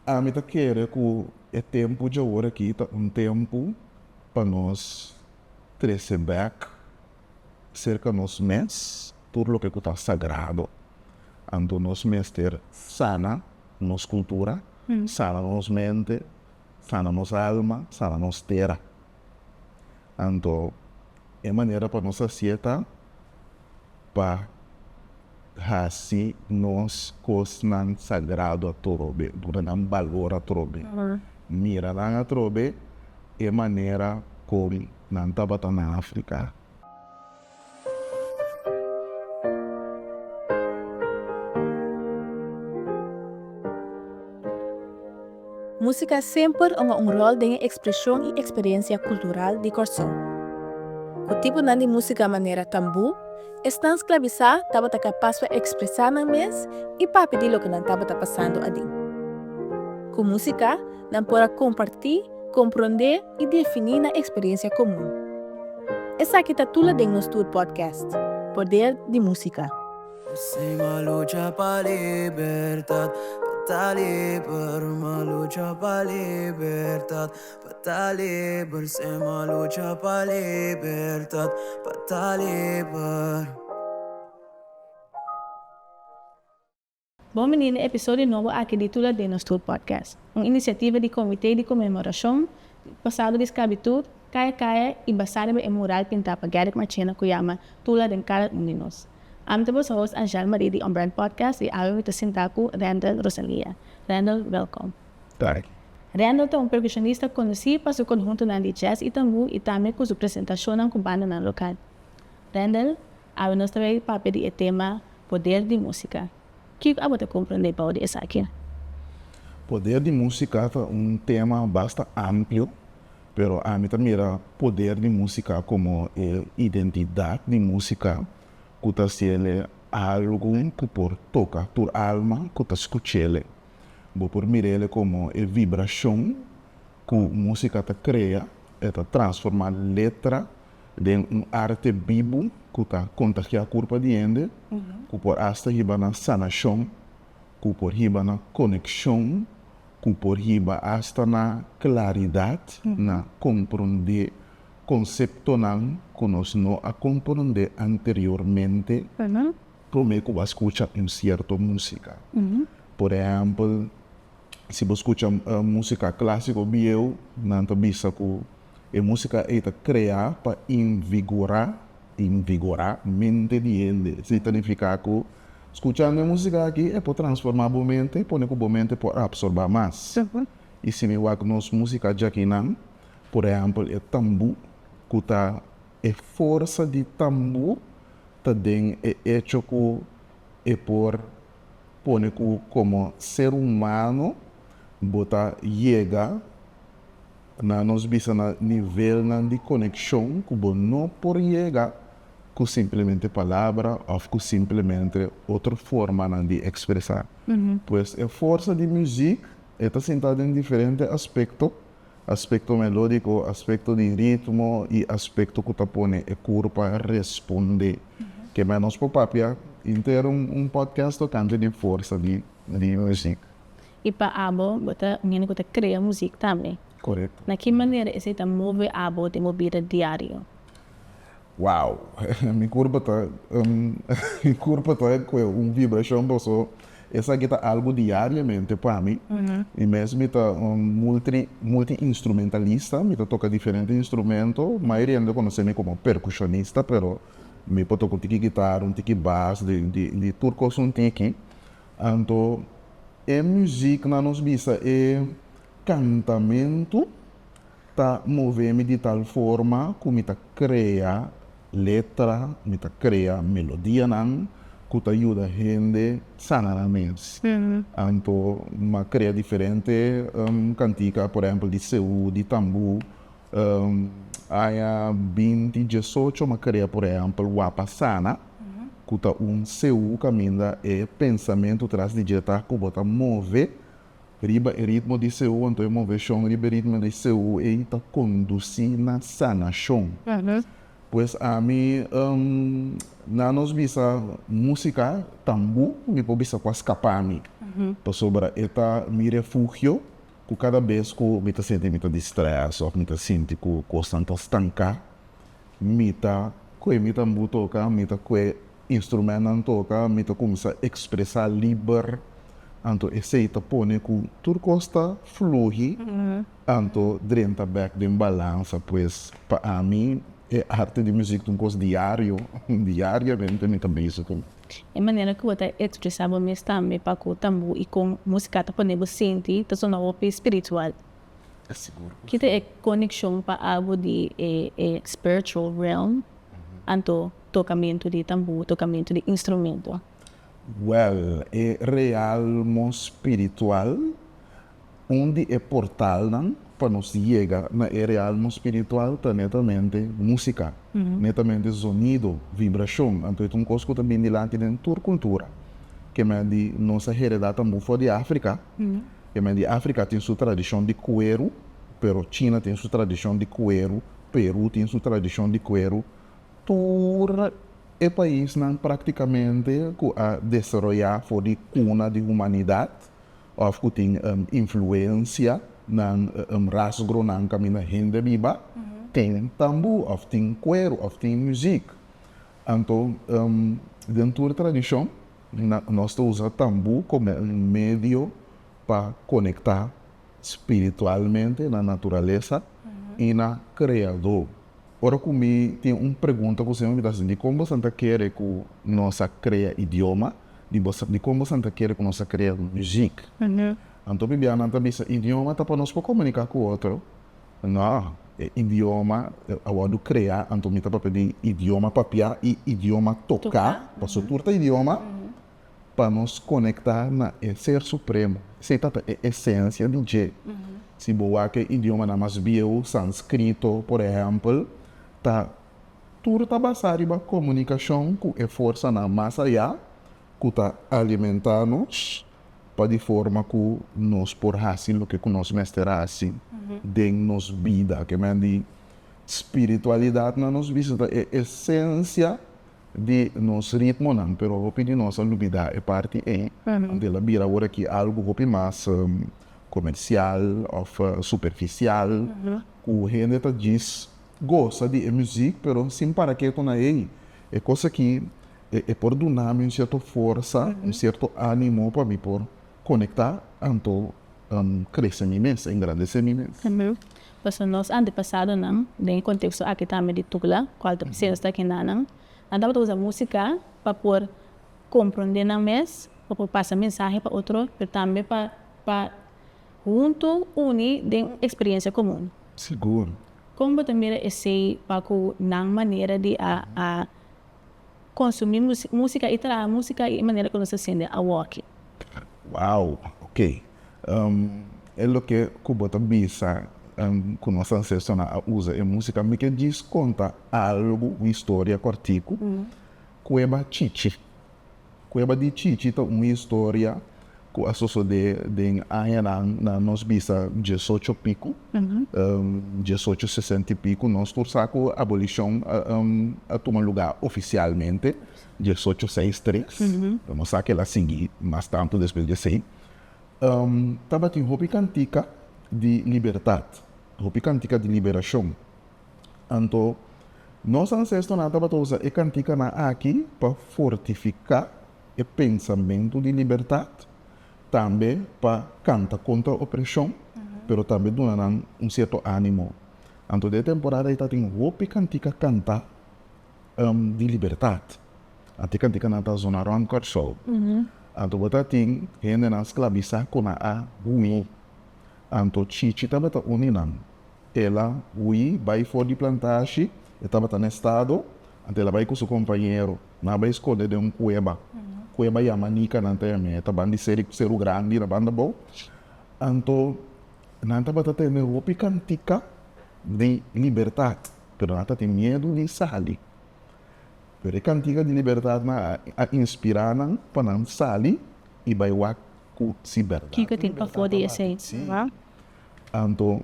Ami ta kere ku e tempu dje ora aki ta un tempu pa nos trese bèk serka nos mes tur loke ku ta sagrado. Anto nos mester sana nos kultura, sana nos mente, sana nos alma, sana nos tera. Anto, e manera pa nos haci'e ta pa haci nos cosnan sagrado atrobe, duna nan balor atrobe, mira nan atrobe e manera con nan tabata na Africa. Músika semper ungá un ròl den e ekspreshon i eksperensia kultural di Kòrsou. Ku tipunan di músika manera tambú, esnan sklabisá tabata kapas pa ekspresá nan mes i papia di loke nan tabata pasando adin. Ku músika. nan por a kompartí, komprondé i definí nan eksperiencia komun. Esaki ta Tula den nos tur podcast, Poder di Música. Sima lucha pa libertad pa ta liber Ma lucha pa libertad pa ta liber Sima lucha pa libertad pa ta liber. Bon bini na e episodio nobo aki di Tula Den nos Tur Podcast, un inisiativa di Comité di Conmemoracion di Pasado di Sclavitud, Kaya Kaya, y basá riba e mural pintá pa Garrick Marchena cu yama Tula Den Cada Un Di Nos. Ami ta boso host Angèle Marie di Onbrand Podcast y awe mi ta sintá cu Randall Rosalia. Randall, welkom. Danki. Randall ta un percusionista conocí pa su conhuntonan di jazz y tambú y tambe cu su presentacionnan cu bandanan local. Randall, Awe nos ta bay papia di e tema Poder di Música. Kiko abo ta comprende bou di esaki? Poder di Música ta un tema basta amplio, pero ami ta mira Poder di Música como e identidad di música cu ta hacele algo cu por toca tur alma cu ta scuchele. Bo por mirele como e vibracion cu música ta crea, e ta transforma letra den un arte bibu ku ta kontagiá kurpa di hende, ku por asta hiba na sanashon, ku por hiba na konekshon, ku por hiba asta na klaridat na komprondé konseptonan ku nos no a komprondé anteriormente promé ku bo a skucha un sierto músika. Por ehèmpel, si bo skucha músika klásiko bieu, nan ta bisa ku E músika ei ta kreá pa invigorá, invigorá, mente di hende. Esei ta nifiká ku skuchando e músika akí e por transformá bo mente i pone ku bo mente por apsorbá mas. I si mi wak nos músika djakinan, por ehèmpel e tambú, ku ta e forsa di tambú ta den e echo ku e por pone ku komo ser humano bo ta yega. Na nos bisa na nivelnan di konekshon ku bo no por yega ku simplemente palabra òf ku simplemente otro formanan di ekspresá. Pues e forsa di muzik e ta sintá den diferente aspekto, aspekto melódiko, aspekto di ritmo i aspekto ku ta pone e kur pa respondé. Ke mei nos por papia intero un podcast tokante di forsa di muzik. I pa abo, bo ta un hende ku ta krea muzik tambe. Korekto. Na ki manera esei ta move abo den bo bida diario? Wow! Mi kurpo ta un mi kurpo ta ku e un vibrashon boso. Esaki ta algu diariamente pa mi. I mes mi ta un multri multiinstrumentalista. Mi ta toka diferente instrumento. Mayoria hende ta konosé mi komo perkushonista, pero mi por toka un tiki gitar, un tiki bas, di di tur kos un tiki. Anto, e muziknan nos bisa e kantamentu ta move mi di tal forma ku mi ta krea letra, mi ta krea melodianan ku ta yuda hende sana nan mes. Anto, mi a krea diferente kantika, por ehèmpel di seú, di tambú. Aña binti diesocho ma krea por ehèmpel Wapa Sana, ku ta un CU kaminda e pensamentu tras di dje ta ku bo ta move riba e ritmo di CU, anto e moveshon riba e ritmo di CU ei ta kondusí na sanashon. Pues ami na nos bisa músika tambú, mi por bisa kua skapami, pasobra e ta mi refugio. ku kada bes ku mi ta sinti mi ta distrés òf mi ta sinti ku kosnan ta stanká, mi ta kue mi tambú toka, mi ta kue instrumentnan toka, mi ta kuminsá ekspresá liber. Anto esei ta pone ku tur kos ta fluhi, anto drenta bèk den balansa. Pues, pa ami e arte di muzik ta un kos diario, diariamente mi ta bizi ku. E manera ku bo ta ekspresá bo mes tambe pa ku tambu i kon músika ta pone bo sinti ta sona hopi spiritual. Ki ta e konekshon pa algu di e spiritual realm anto tokamentu di tambu, tokamentu di instrumento? Wèl, e realmo spiritual Un di e portalnan pa nos yega na e realmo spiritual ta netamente músika, netamente zonido, vibrashon. Anto e ta un kos ku ta bini dilanti den tur kultura. Ke men di nos a heredá tambe for di Afrika. Ke men di Afrika tin su tradishon di kueru, pero China tin su tradishon di kueru, Peru tin su tradishon di kueru. Tur e paisnan praktikamente ku a desaroyá for di kuna di humanidat. òf ku tin influensia na rasgronan kaminda hende biba, tin tambú òf tin kueru òf tin muzik. Anto den tur tradishon nos ta usa tambú komo un medio pa konektá spiritualmente na naturalesa i na Kreadó. Ora ku mi tin un pregunta ku Señor, mi ta sinti, kon boso ta kere ku nos a krea idioma? Di boso, dikon boso ta kere ku nos a krea muzik? Anto bibianan ta bisa, idioma ta pa nos por komuniká ku otro. No, e idioma a wòrdu kreá, anto mi ta papia di idioma papiá i idioma toká, pasobra tur ta idioma. pa nos konektá na e Ser Supremo. Esei tabata e esensia di dje. Si bo wak e idiomanan mas bieu, Sanskrito, por ehèmpel, ta tur ta basá riba komunikashon ku e forsanan mas ayá ku ta alimentá nos pa di forma ku nos por hasi loke ku nos mester hasi den nos bida. Ke men di spiritualidat na nos bista ta e esensia di nos ritmonan, pero hopi di nos a lubidá e parti ei, anto el a bira awor aki algu hopi mas komersial òf superfisial, ku hende ta djis gosa di e muzik, pero sin para ke ku na ei e kos aki e por duna mi un sierto forsa, un sierto ánimo pa mi por konektá, anto krese mi mes, engrandesé mi mes. Pasobra nos antepasadonan, den e konteksto aki tambe di Tugla, ku alta presidente ta kendanan, nan tabata usa músika pa por komprondé nan mes, pa por pasa mensahe pa otro, pero tambe pa pa huntu uni den un eksperiencia komun. Sigur. Kon bo ta mira esei pa ku nan manera di a a. konsumí músika i traha músika i e manera ku nos ta hasiendo awoki. Wow! Oke, e loke ku bo ta bisa ku nos ansestonan a usa e músika. Mi ke djis konta algu, un historia kòrtiku, ku e bai chichi. Cueva di Chichi ta un historia cu a sosode den añanan na nos bisa diesocho pico, diesocho sesenta y pico, nos tur sa cu abolicion a tuma lugar oficialmente diesocho seis tres, pero nos sa kel a sigui mas tanto despues di esey. Tabatin hopi cantica di libertad, hopi cantica di liberacion. Anto, nos ansestonan tabata usa e kantikanan akí pa fortifiká e pensamentu di libertat, tambe pa kanta kontra opreshon, pero tambe duna nan un sierto ánimo. Anto den e temporada ei ta tin hopi kantika kantá di libertat. Ante e kantikanan ta zona rònt Kòrsou. Anto bo ta tin hendenan sklabisá ku nan a hui. Anto chichi tabata uni nan El a hui bai for di plantashi, e tabata na estado, anto el a bai ku su kompañero. Nan a bai skonde den un kueba. Kueba yama Nika nan ta yam'é. E taban di seri ku seru grandi na banda bou. Anto nan tabata tene hopi kantika di libertat, pero nan tatin miedu di sali. Pero e kantika di libertat nan a inspirá nan pa nan sali i bai wak ku si bèrdat. Kiko tin pafó di esei? Anto,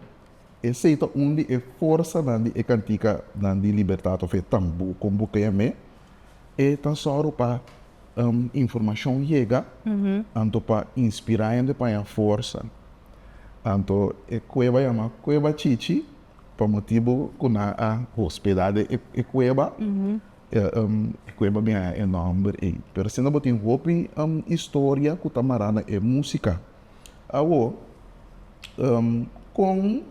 esei ta un di e forsanan di e kantikanan di libertat of e tambu kon bo krea mé. E ta sòru pa informashon yega anto pa inspirá hende pa haña forsa. Anto e kueba yama Kueba Chichi pa motibu ku nan a hospedá den e kueba. E kueba bin haña e nòmber ei. Pero asina bo tin hopi historia ku ta mará na e músika. Awor, kon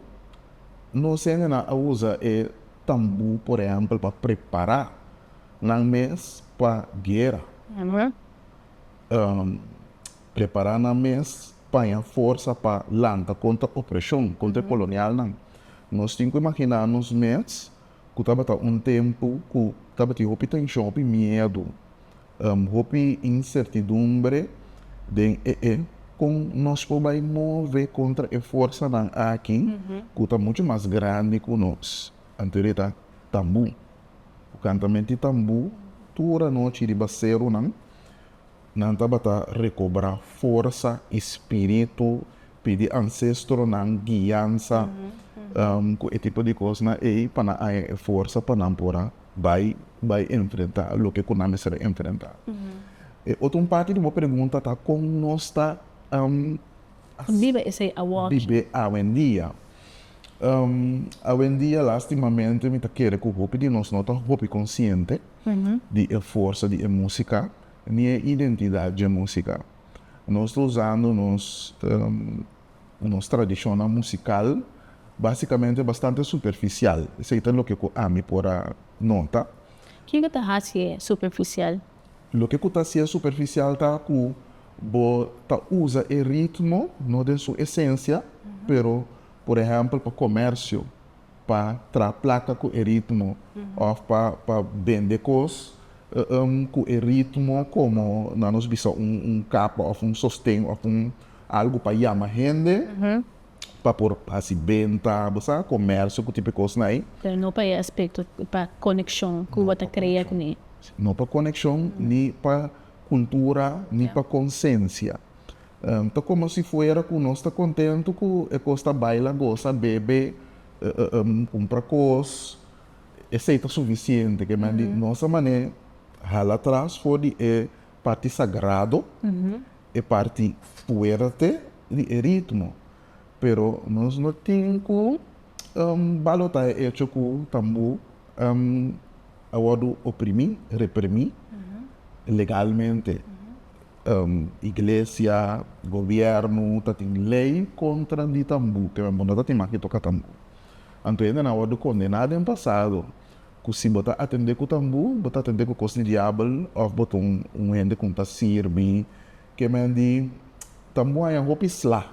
nos hendenan a usa e tambu, por ehèmpel, pa prepará nan mes pa guera? Prepará nan mes paña forsa pa lanta kontra opreshon, kontra e kolonialnan. Nos tin ku imaginá nos mes ku tabata un tempu ku tabatin hopi tenshon, hopi miedu. hopi insertidumbre den e e. Kon nos por bai move kontra e forsanan aki ku ta muchu mas grandi ku nos? Anteori ta tambu. Ku kantamenti tambu, tur anochi di baserunan nan tabata rekobrá forsa i spiritu pidi ansestronan guiansa ku e tipo di kosnan ei pa nan haña e forsa pa nan por a bai bai enfrentá loke ku nan mester a enfrentá. E otro un parti di bo pregunta ta kon nos ta biba esei awochi? Bibe awendia. Awendia lastimamente mi ta kere ku hopi di nos no ta hopi konsiente di e forsa di e músika ni e identidat dje músika. Nos ta usando nos nos tradishonnan musikal, básikamente bastante superfisial. Esei ta loke ku ami por a nota. Ke ku ta hasié superfisial? Loke ku ta hasié superfisial ta ku bo ta usa e ritmo no den su esensia, pero por ehèmpel pa komèrsio. pa traha plaka ku e ritmo òf pa pa bende kos ku e ritmo komo nan nos bisa un kapa òf un sosten òf un algu pa yama hende pa por hasi benta bo sa komèrsio ku tipo e kosnan ei. Pero no pa e aspekto pa konekshon ku bo ta krea kuné. No pa konekshon ni pa kultura ni pa konsensia. Ta como si fuera cu nos ta contento cu e cos ta baila, goza, bebe, cumpra cos. Esey ta suficiente. Ke men di nos a mane hala tras for di e parti sagrado, e parti fuerte di e ritmo. Pero nos no tin cu balota e hecho cu tambo a wordo oprimi, reprimi legalmente. Iglesia, gobièrnu ta tin lei kontra di tambú, te men bo no ta tin maki toka tambú. Anto hendenan a wòrdu kondená den pasado ku si bo ta atendé ku tambú, bo ta atendé ku kos di diabel òf bo ta un hende ku no ta sirbi. Ke men di tambú haña hopi sla.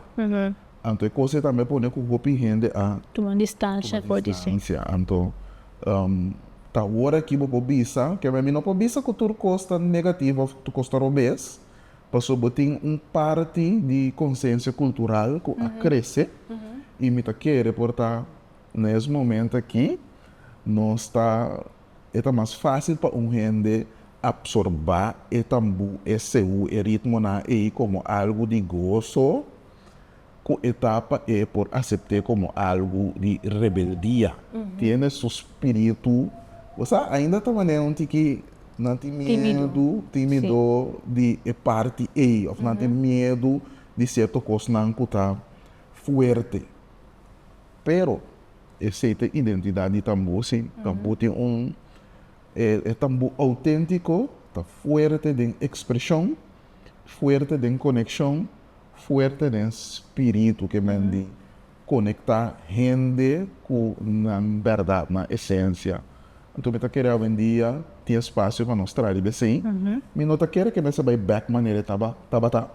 Anto e cosa ei tambe a pone cu hopi hende a. Tuma distancia for di su. Anto, ta ora aki bo por bisa, kema mi no por bisa cu tur cos ta negativo of tur cos ta robes, pasobra bo tin un parti di concencia cultural cu a crece y mi ta kere por ta na es momento aki nos ta e ta mas facil pa un hende absorba e tambo, e seu, e ritmonan ei como algo di gozo. cu etapa e por acepte como algo di rebeldia. Tiene su spiritu. Bo sa, ainda ta mane un tiki nan tin miedu, timido di e parti ei, of nan tin miedu di cierto cosnan cu ta fuerte. Pero esey ta e identidad di tambo, si. Tambo tin un, e tambo autentico ta fuerte den expresion, fuerte den coneccion. fuerte den spiritu ke men di konektá hende ku nan bèrdat, nan esensia. Anto mi ta kere awendia tin espasio pa nos tradi besei. Mi no ta kere ke mester bai bèk manera e tabata,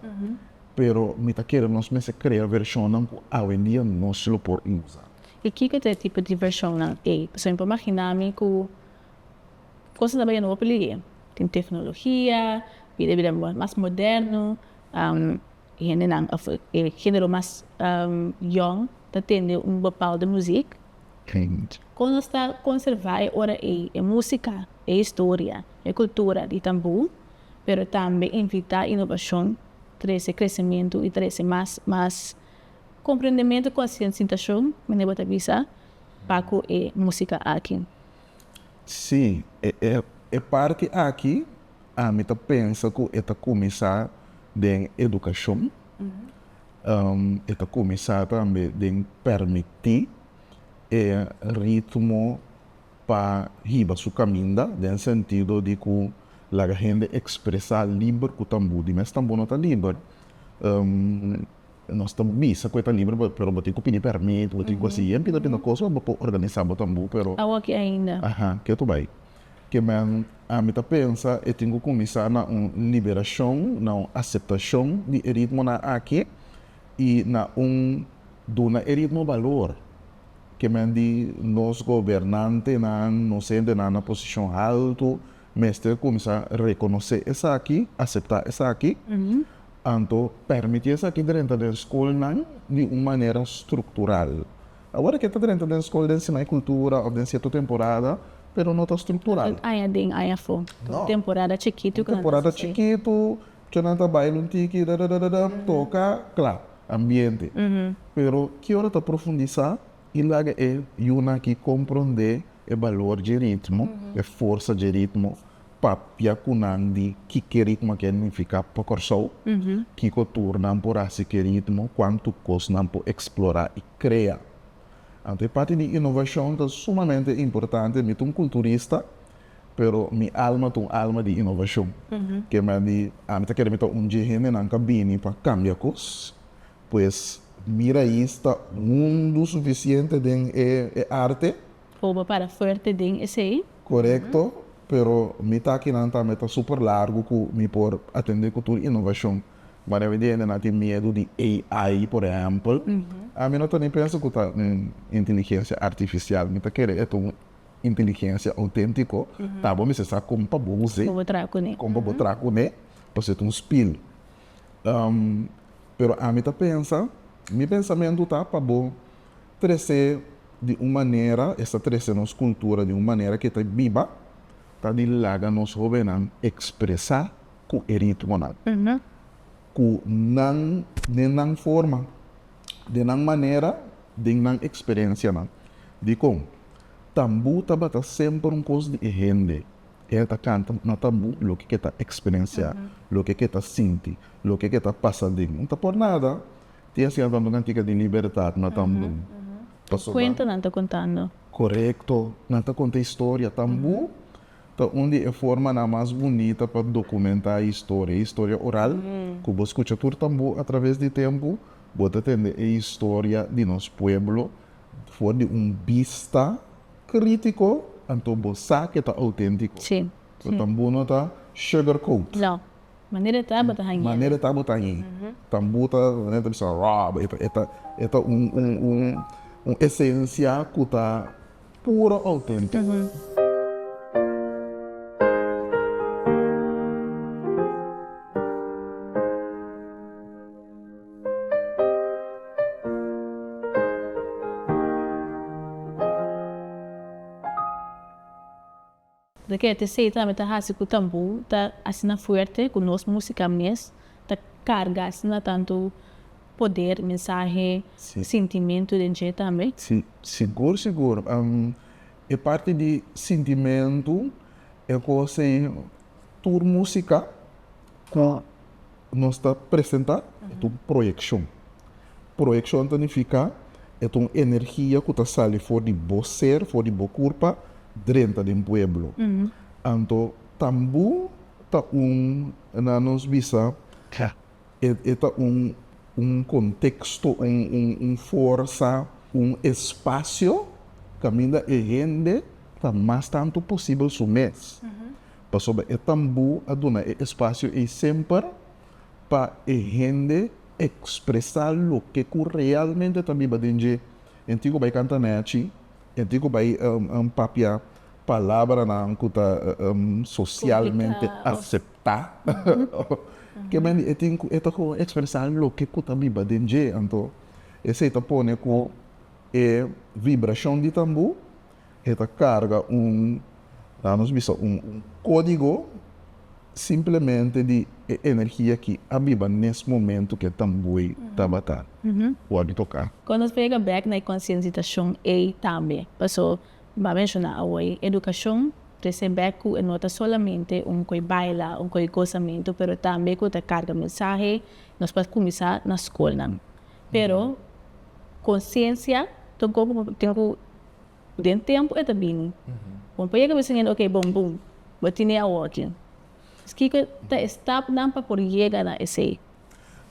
pero mi ta kere nos mester krea vershonnan ku awendia nos lo por usa. I kiko ta e tipo di vershonnan ei? Pasobra mi por maginá mi ku kos ta bai yendo hopi liger. Tin teknologia, bida bida mas moderno. E hendenan of e genero mas yòn ta tende un bapaldu muzik. Kon nos ta konservá e ora ei e músika, e historia, e kultura di tambú, pero tambe invitá inobashon, trese kresementu i trese mas mas komprendementu, konsiensiatashon, mane bo ta bisa, pa ku e músika aki. Sí, e parti aki ami ta pensa ku e ta kuminsá den edukashon, e ta kuminsá tambe den permití e ritmo pa hiba su kaminda, den sentido di ku laga hende ekspresá liber ku tambu di mes tambu no ta liber. Nos ta bisa cu e ta liber bo pero bo tin cu pidi permit bo tin cu haci yen pinda pinda cos pa bo por organisa bo tambo pero Awa aki ainda. Aha ke tu bay ke men ami ta pensa e tin cu cuminsa na un liberacion na un aceptacion di e ritmonan aki y na un duna e ritmo balor ke men di nos gobernantenan nos hendenan na posicion halto Mester cuminsa reconoce esaki, acepta esaki, anto permiti esaki drenta den scolnan di un manera structural. Awor eke ta drenta den scol den sima e cultura of den cierto temporada, pero no ta structural. Un aña adin, un aña afo. No. Un temporada chikitu cu nan ta haci asai. Un temporada chikitu, cu nan ta baila un tiki, dadadadadam, toca, cla. Ambiente. Pero ki ora ta profundisa i laga e yunan aki komprondé e balor dje ritmo, e forsa dje ritmo, papia ku nan di kiko ritmo a kende nifiká pa Kòrsou, kiko tur nan por hasi ku e ritmo, kuantu kos nan por eksplorá i krea. Anto e parti di inovashon ta sumamente importante. Mi ta un kulturista, pero mi alma ta un alma di inovashon. Kemandi ami ta kere mi ta un dje hendenan ku a bini pa kambia kos. Pues mira ahi sta hundu suficiente den e arte. Bobo para fuerte den esey. Corecto, pero mi takinan tambe ta super largo cu mi por atende cu tur innovacion. Manera mi di hende nan tin miedu di AI por ehempel, ami no ta ni pensa cu ta un inteligencia artificial, mi ta kere e ta un inteligencia autentico, ta bo mester sa con pa bo usa, con pa bo traha cune, pasobra ta un spil. Pero ami ta pensa, mi pensamentu ta pa bo trese di un manera, esta trese nos cultura di un manera ke ta biba, ta di laga nos hobennan expresa ku e ritmonan ku nan den nan forma, den nan manera, den nan experencianan. Dikon? Tambu tabata semper un kos di e hende, Ke e ta kanta no ta bu loke ke ta eksperensiá, loke ke ta sinti, loke ke ta pasa den no ta por nada. Tin asina tambe kantika di libertat no ta bu. Pasobra. Kuento nan ta kontando. Korekto, nan ta konta historia. Tambu ta un di e formanan mas bunita pa dokumentá e historia, e historia oral. Ku bo skucha tur tambu atraves di tempu, bo ta tende e historia di nos pueblo for di un bista crítico, anto bo sa ke ta auténtico. Sí, sí. Tambu no ta sugar coat. No. Manera e ta bo ta hañ'é. Manera e ta bo ta hañ'é. Tambu ta bisa raw, bo e ta e ta un un un un esencia ku ta puro auténtico. Lo ke te Satan a meta hasi ku tambu ta asina fuerte ku nos musika mes ta karga asina tantu poder, mensahe, sintimentu den dje tambe? Si, sigur sigur. E parti di sintimentu, e kos ei tur musika ku. Nos ta presentá e ta un proyekshon. Proyekshon ta nifiká e ta un energia ku ta sali for di bo ser, for di bo kurpa drenta den pueblo. Anto tambu ta un, nan nos bisa, e ta un un konteksto, un forsa, un espasio kaminda e hende ta mas tantu posibel su mes. pasobra e tambu a duna e espasio ei semper pa e hende ekspresá loke ku realmente ta biba den dje. E antigua bai kanta nachi, e antigua bai papia palabranan ku ta sosialmente aseptá. Ke men e tin ku e ta kon ekspresá loke ku ta biba den dje. Anto esei ta pone ku e vibrashon di tambu E ta carga un, laat nos bisa, un codigo simplemente di e energia ki a biba nes momento cu e tamboe tabata wordo toca. Con nos brega bek na e concienzitacion ey tambe, paso bo a menciona awoy, educacion trece bek cu e no ta solamente un coi baila, un coi gozamento, pero tambe cu ta carga mensahe, nos por cuminsa na scolnan. Pero conciencia tocobo tin cu den tempo e ta bini bon pa yega bisnen ok bon bum bo tine awor kin es kiko ta e stapnan pa por yega na esey.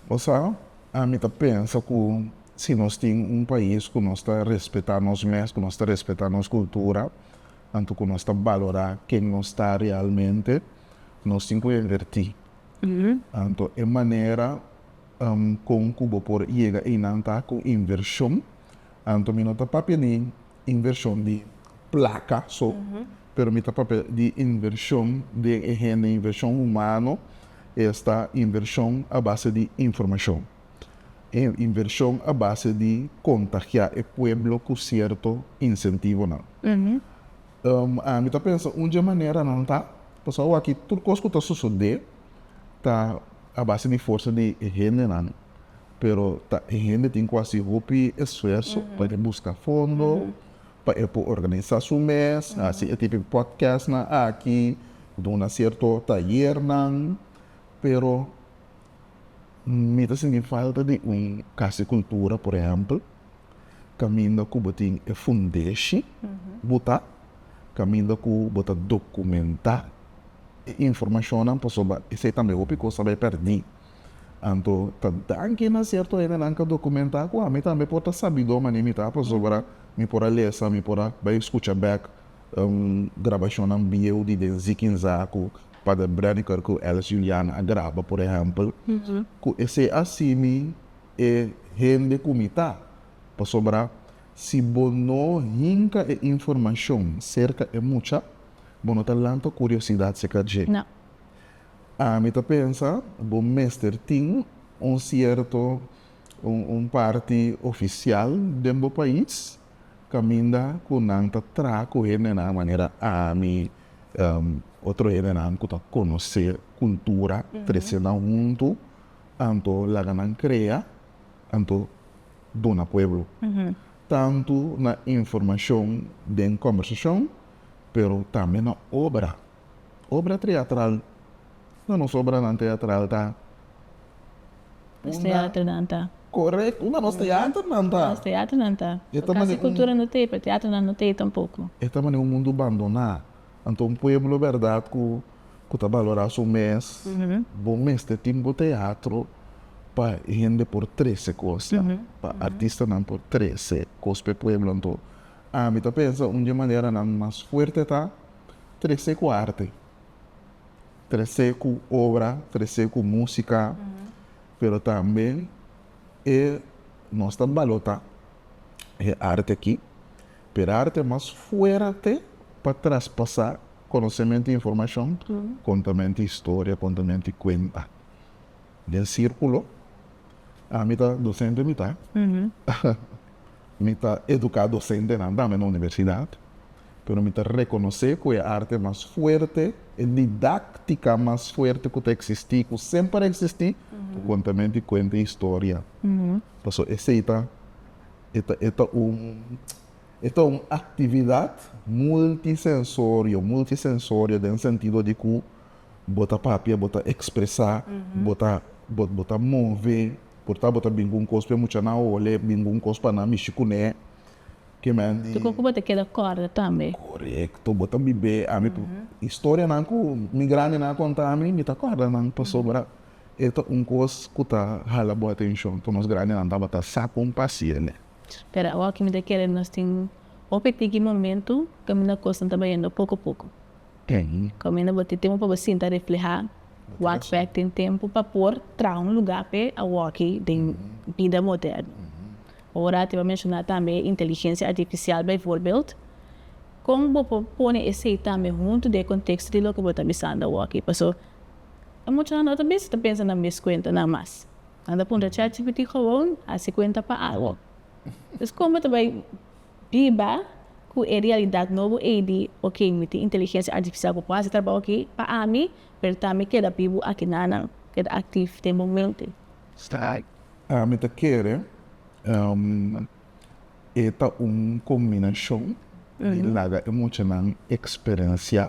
Bo sa ami ta pensa ku si nos tin un pais ku nos ta respetá nos mes ku nos ta respetá nos kultura anto ku nos ta balorá ken nos ta realmente nos tin ku invertí anto e manera kon ku bo por yega einan ta ku invershon. Anto mi no ta papia di invershon di plaka so, pero mi ta papia di invershon den e hende, invershon humano, esta invershon a base di informashon, invershon a base di kontagiá e pueblo ku sierto insentivonan. Ami ta pensa un dje manera nan ta paso awaki tur kos ku ta sosodé ta a base di forsa di e hendenan, pero ta e hende tin ku hasi hopi esfuerso pa e buska fondo pa e por organisa su mes, hasi e tipo di podcastnan aki, duna sierto tayernan, pero mi ta sinti falta di un Kas di Kultura por ehèmpel kaminda ku bo tin e fundeshi bo ta kaminda ku bo ta dokumentá e informashonnan pasobra esei tambe hopi kos ta bai pèrdí. Anto ta danki na sierto hendenan ka documentá cu ami tambe por ta sabidó mane mi ta pasobra mi por a lesa, mi por a bai scucha bek grabacionnan bieu di den Zikin Zaku, Pader Breniker cu Alice Juliana a graba por ehempel, cu esei a simi e hende cu mi ta. Pasobra si bo no hinca e informacion cerca e mucha, bo no ta lanta curiosidad seca dje. Ami ta pensa bo mester tin un sierto un parti ofisial den bo pais caminda cu nan ta traha cu hendenan manera ami, otro hendenan cu ta conoce cultura, trecenan hunto anto laga nan crea anto duna pueblo tanto na informacion den conversacion pero tambe na obra. Obra triatral, na nos obranan triatral ta unda korekto na nos teaternan ta. E ta manera un mundu bandoná. Anto un pueblo bèrdat ku ta balorá su mes bo mester tin bo teatro pa hende por trese kos ta, pa artistanan por trese kos pa e pueblo. Anto ami ta pensa un di e maneranan mas fuerte ta. trece cu arte, trece cu obra, trece cu musica, pero tambe e nos ta balota e arte aki, pero arte mas fuerte pa traspasa conocemento y informacion, contamento y historia, contamento y cuenta. Den circulo, ami ta docente mitad. Mi ta eduká dosentenan tambe na universidat, pero mi ta rekonosé ku e arte mas fuerte, e didáktika mas fuerte ku ta eksistí, ku semper a eksistí, ta kontamen di kuenta e historia. Pasobra esei ta, e ta, e ta un, e ta un aktividat multisensorio, multisensorio den sentido di ku bo ta papia, bo ta ekspresá, bo ta, bo ta move. Por ta bo ta bin ku un kos pa e muchanan o bo le bin ku un kos pa nan mishi kuné ke mi a. Dikon ku bo ta keda kòrda tambe? Korekto. Bo ta bibé. Ami ta historianan ku mi grandenan a konta mi, mi ta kòrda nan pasobra e ta un kos ku ta hala bo atenshon. Ku nos grandenan tabata sa kon pasiele. Pero awa ke mi ta kere nos tin hopi tiki momentu kaminda kosnan ta bayendo poko poko. Kaminda bo tin tempu pa bo sinta reflehá wak fè tin tempu pa por traha un lugá p'e awòkki den bida moderno. Ora a tin pa menshoná tambe inteligensia artifisial bijvoorbeeld, kon bo por pone esei tambe huntu den e konteksto di loke bo ta bisando awòkki? Paso e muchanan no ta bisa ta pensa na mes kuentanan mas. Nan ta puntra chatgpt, Gewoon hasi kuenta pa algu. Entonces kon bo ta bai biba ku e realidat nobo ei di oke, mi tin inteligensia artifisial ku por hasi trabou aki pa ami, pero ta mi keda bibu aki nanan, keda aktif den momente. Mi ta kere e ta un kombinashon di laga e muchanan eksperensiá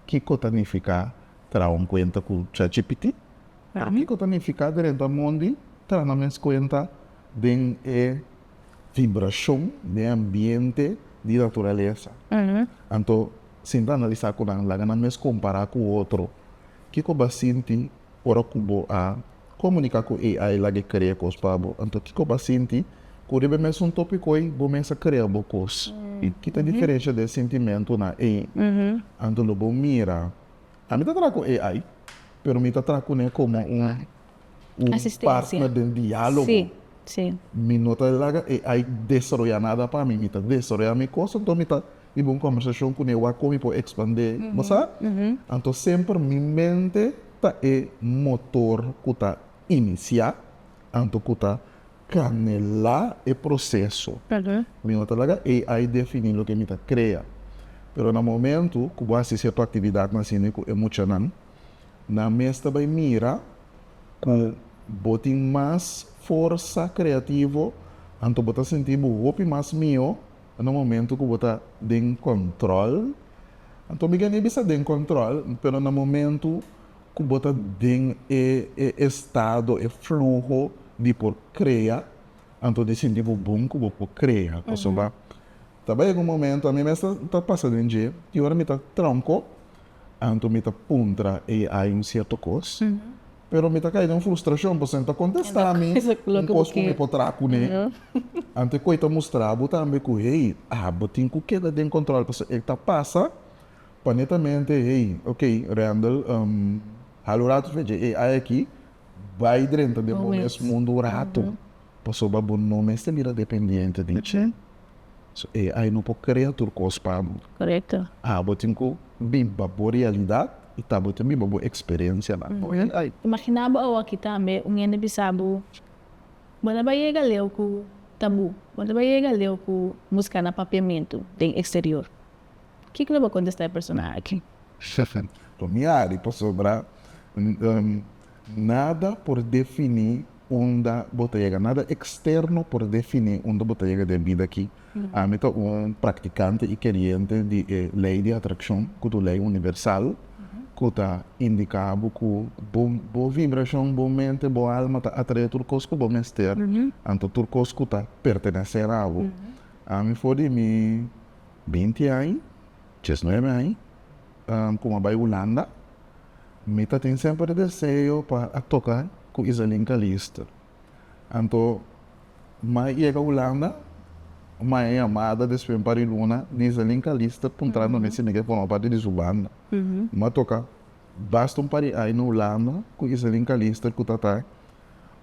kiko ta nifiká traha un kuenta ku chatgpt, kiko ta nifiká drenta mondi traha na mes kuenta den e. vibrashon den ambiente di naturalesa. Anto, si bo ta analisá ku nan, laga nan mes kompará ku otro. Kiko bo a sinti ora ku bo a komuniká ku AI laga e krea kos pa bo? Anto, kiko bo a sinti ku riba e mesun tópiko ei bo mes a krea bo kos? Ki ta diferensha den sintimentunan ei? Anto, lo bo mira, ami ta traha ku AI, pero mi ta traha kuné komo un un partner den dialogo. Mi no ta laga AI desaroya nada pa mi, mi ta desaroya mi cos, anto mi ta hiba un conversacion cu newa con mi por expande, bo sa? Anto semper mi mente ta e motor cu ta inicia, anto cu ta canela e proceso. Mi no ta laga AI defini loke mi ta crea, pero na momento cu bo a hacisi e tu actividadnan asina cu e muchanan, Nan mes ta bai mira ku bo tin mas forsa kreativo, anto bo ta sinti bo hopi mas mihó na momentu ku bo ta den kòntròl. Anto mi gania bisa den kòntròl, pero na momentu ku bo ta den e estado, e fluho di por krea, anto di sinti bo bon ku bo por krea kos. Ta bai algun momentu, ami mes ta pasa den dje, tin ora mi ta tronko Anto mi ta puntra AI un sierto kos, pero mi ta kai den un frustrashon pasobra e ta kontestá mi un kos ku mi por traha kuné. Anto e koi ta mustra bo tambe ku, hey, abo tin ku keda den kontròl pasobra e ta pasa pa netamente, hey, ok, Randall, hala un ratu fecha e AI aki, bai drenta den bo mes mundu un ratu. pasobra bo no mester bira dependiente di Che, so e ay no por krea tur kos pa bo. Korekto. A Bo tin ku biba bo realidat i tabatin biba bo eksperensianan, no e ay. Imaginá bo awaki tambe un hende bisa bo, Bo no a bai yega leu ku ta bu, bo no a bai yega leu ku buska na papiamentu den eksterior. Kiko lo bo kontestá e persona aki? Lo miari, pasobra Nada por definí unda bo ta yega, nada eksterno por definí unda bo ta yega den bida akí. Ami ta un praktikante i keriente di e lei di atrakshon ku ta un lei universal ku ta indiká bo ku bo bo vibrashon, bo mente, bo alma ta atraé tur kos ku bo mester, anto tur kos ku ta pertenesé na bo. Ami for di mi binti aña, diesnuebe aña. Con a bai Hulanda, mi ta tin semper e deseo pa a toca cu Iselin Callister. Anto mai yega Hulanda, mai a yamada despues un par e luna di Iselin Callister puntrando mi si mi ke forma parti di su banda. Mi a toca basta un par e aña na Hulanda cu Iselin Callister cu ta ta.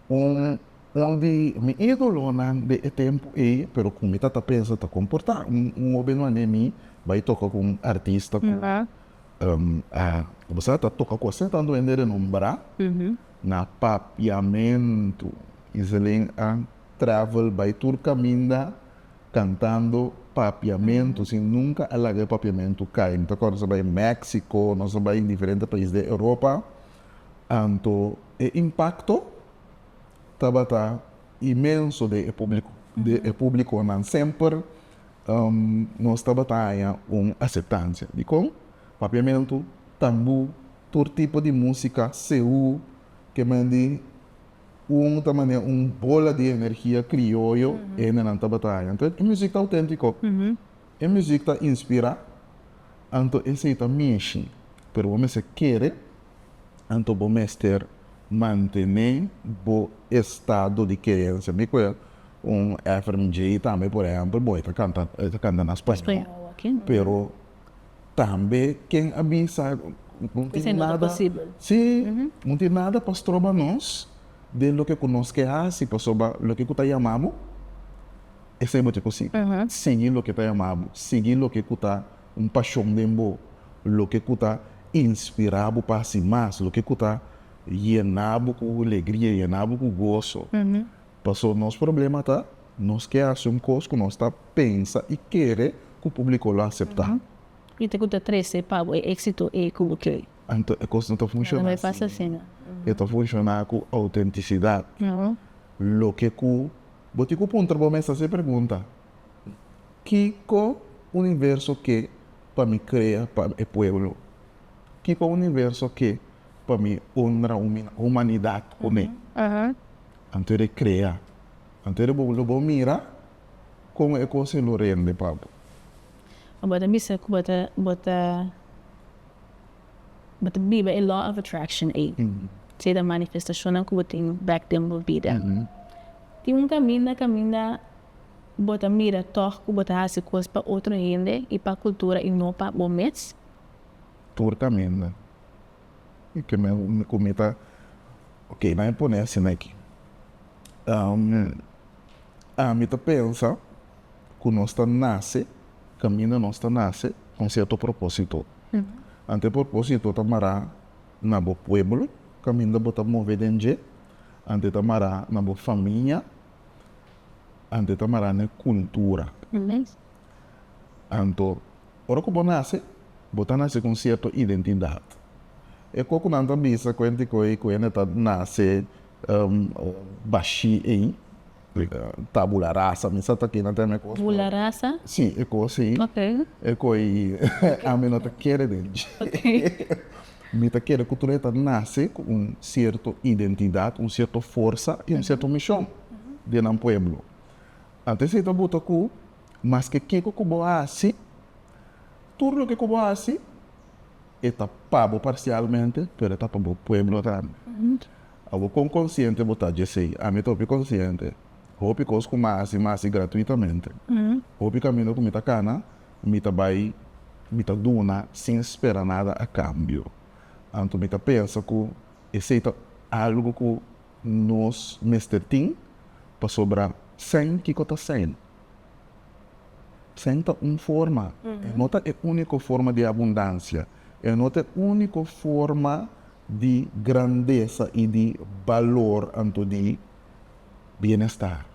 un un di mi idolonan de e tempu ei, pero ku mi ta ta pensa ta komportá un un hopi no an'e mi bai toka ku un artista ku kobosai ta toka ku asina tantu hende renombrá na papiamentu i Zelén a travel bai tur kaminda kantando papiamentu sin nunka a laga e papiamentu kai. Mi ta kòrda nos a bai Meksiko, nos a bai diferente pais di Europa. Anto e impakto tabata imenso den e públiko. Den e públikonan semper nos tabata haña un aseptansia. Dikon? Papiamentu, tambú, tur tipo di músika, seú, ke men di un ta manera un bola di energia krioyo hende nan tabata haña. Entonces, e músika auténtiko. E muziek ta inspira, anto esei ta mishi. Pero bo mester kere, anto bo mester mantené bo estado di keensia. Mi koe un Efrem J. tambe, por ehèmpel, bon e ta kanta, e ta kanta na spañol, pero tambe ken a bisa no tin nada, si, no tin nada pa stroba nos den loke ku nos ke hasi, pasobra loke ku ta yama bo. Esei bo tin ku sigui. Sigui loke ta yama bo. Sigui loke ku ta un pashon den bo. Loke ku ta inspirá bo pa hasi mas. Loke ku ta yená bo ku alegria, yená bo ku goso. Pasobra nos problema ta nos ke hasi un kos ku nos ta pensa i kere ku publiko lo aseptá. I ta ku ta trese pa bo e éksito ei ku bo kere? Anto e kos no ta funshoná asin. E ta funshoná ku outentisidat. Loke ku Bo tin ku puntra bo mes hasi e pregunta, Kiko universo ke pa mi krea pa e pueblo? Kiko universo ke pa mi honra humanidat ku mi? Anto e rekrea. Anto e bo lo bo mira kon e kos ei lo rende pa bo. Bo ta bisa ku bo ta bo ta. bo ta biba e law of attraction ei, keda e manifestashonnan ku bo tin bèk den bo bida. Tin un kaminda kaminda bo ta mira tòg ku bo ta hasi kos pa otro hende i pa kultura i no pa bo mes? Tur kaminda ku mi ta Ok, nan e pone asina aki. Ami ta pensa ku nos ta nase, kaminda nos ta nase, ku un sierto propósito. Ante por posito ta mará na bo pueblo, kaminda bo ta move den dje, ante ta mará na bo famia, ante ta mará na e kultura. Anto, ora ku bo nase, bo ta nase ku un sierto identidat. E koku nan ta bisa ku hende ku e hende ta nase bashí ei. Tabula rasa mi sa ta kina tem e kos. Bula rasa? Si e kos ei. Ok. E kos ei ami no ta kere den dje. Mi ta kere ku tur e ta nase ku un sierto identidat, un sierto forsa i un sierto mishon den nan pueblo. Anto esei ta buta ku maske kiko ku bo hasi, tur loke ku bo hasi e ta pa bo parsialmente pero e ta pa bo pueblo tambe. Awor kon konsiente bo ta dje esei? Ami ta hopi konsiente. Hopi kos ku mi a hasi, mi a hasi gratuitamente. Hopi kaminda ku mi ta kana, mi ta bai, mi ta duna sin spera nada a kambio. Anto mi ta pensa ku esei ta algu ku nos mester tin, pasobra sèn kiko ta sèn? Sèn ta un forma, e no ta e úniko forma di abundansia. E no ta e úniko forma di grandesa i di balor anto di bienestar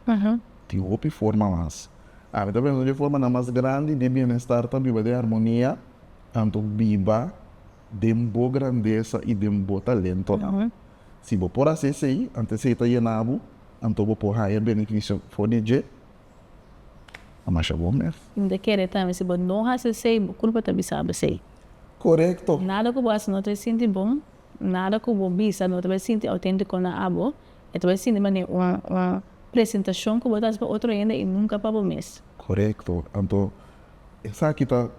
tin hopi forma mas. Mi ta pensa ku e formanan mas grandi di bienestar ta biba den harmonia, anto biba den bo grandesa i den bo talentonan. Si bo por hasi esei, anto esei ta yena bo, anto bo por haña benefisio for di dje. a masha bon mer. Mi ta kere tambe si bo no hasi esei bo kulpa ta bisa bo esei. Korekto. Nada ku bo hasi no ta bai sinti bon, nada ku bo bisa no ta bai sinti outéntiko na abo, e ta bai sinti manera un un presentashon ku bo ta hasi pa otro hende i nunka pa bo mes. Korekto, anto esaki ta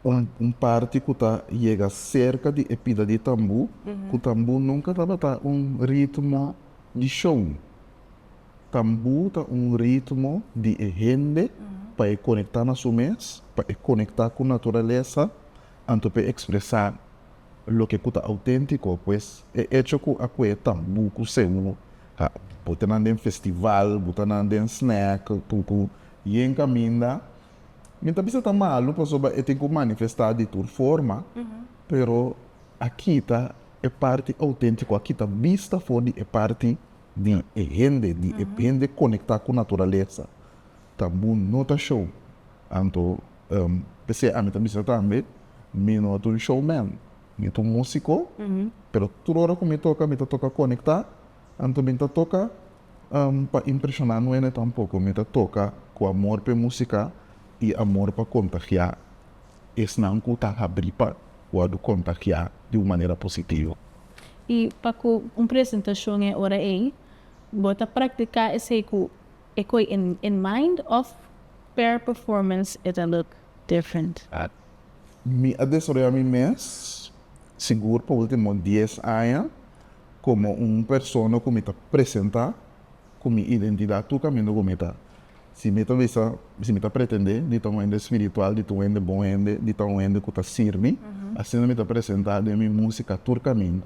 un un parti ku ta yega serka di e pida di tambú, ku tambú nunka tabata un ritmo di show. Tambú ta un ritmo di e hende pa e konektá na su mes, pa e konektá ku naturalesa anto pa e ekspresá loke ku ta outéntiko. Pues e echo ku a kue tambú ku seú, a bota nan den festival, bota nan den snack, ku ku yen kaminda, mi ta bisa ta malu pasobra e tin ku manifestá di tur forma, pero a kita e parti outéntiko, a kita bista for di e parti. di e hende, di e hende konektá ku naturalesa ta bo no ta show anto p'esei ami ta bisa tambe mi no ta un showman mi ta un músiko pero tur ora ku mi toka mi ta toka konektá anto mi ta toka pa impreshoná nuene tampoko mi ta toka ku amor p'e músika i amor pa kontagiá esnan ku ta habrí pa wòrdu kontagiá di un manera positivo. I pa cu un presentacion e ora ey, bo ta practica esey cu e coy in in mind of per performance e ta look different? Mi a desaroya mi mes, sigur pa ultimo dies aña, como un persona cu mi ta presenta ku mi identidat tur kamindo ku mi ta. Si mi ta bisa, si mi ta pretendé di ta un hende spiritual, di ta un hende bon hende, di ta un hende ku ta sirbi, asina mi ta presentá den mi músika tur kamindo.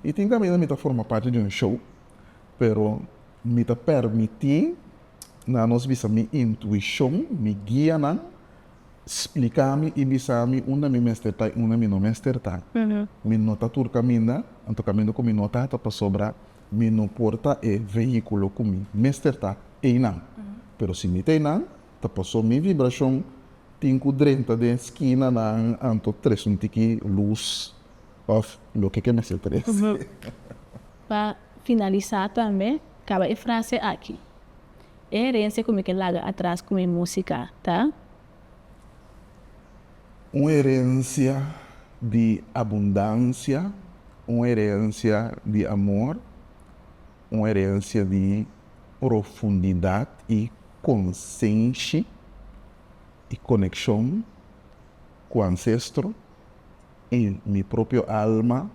I tin kamindo mi ta forma parti di un show, pero mi ta permití nan nos bisa mi intuishon, mi guia nan spliká mi i bisa mi unda mi mester ta i unda mi no mester ta. Mi no ta tur kaminda, anto kamindo ku mi no ta ta pasobra Mi no por ta e vehiculo cu mi mester ta eynan. Pero si mi ta eynan, ta paso mi vibracion tin cu drenta den esquinanan anto tres un tiki luz of loke ke mester tres. Pa finalisa tambe, caba e frase aki, E herencia cu mi ke laga atras cu mi musica ta. Un herensia di abundansia, un herensia di amor, un herensia di profundidat i konsenshi i konekshon ku ansestro i mi propio alma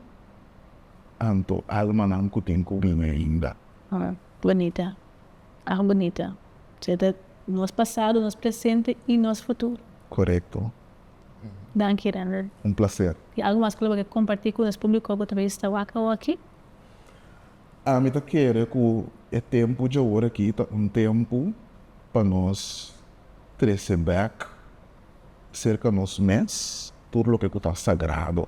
anto almanan ku tin ku bini ainda. Bonita. Awa bunita. Dje ta nos pasado, nos presente y nos futuro. Corecto. Danki Render. Un placer. Tin algo mas cu lo bakier comparti cu nos publico cu ta visita wak awoki? Ami ta kere cu e tempo dje ora aki ta un tempo pa nos trece bek cerca nos mes tur loke cu ta sagrado.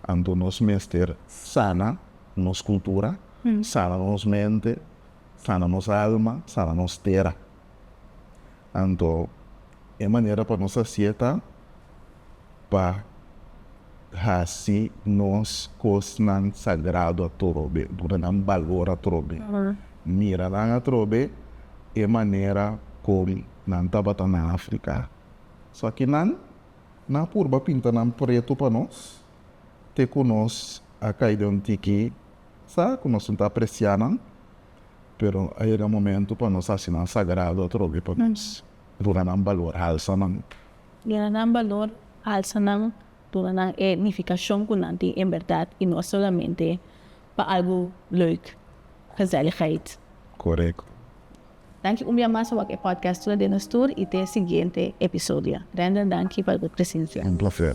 Anto nos mester sana nos cultura, sana nos mente, Sana nos alma, sana nos tera. Anto e manera pa nos haci'e ta pa haci nos cosnan sagrado atrobe, duna nan balor atrobe, mira nan atrobe e manera con nan tabata na Africa. So aki nan na purba pinta nan preto pa nos te cu nos a cay den un tiki Sa cu nos no ta aprecia nan, pero a yega momento pa nos haci nan sagrado atrobe pa nos duna nan balor, halsa nan. Duna nan balor, halsa nan, duna nan e nificacion cu nan tin en berdad y no solamente pa algo leuk, gezelligheid. Correcto. Danki un bia mas pa wak e podcast tura den nos tur y te e siguiente episodio. Render danki pa bo presencia. Un placer.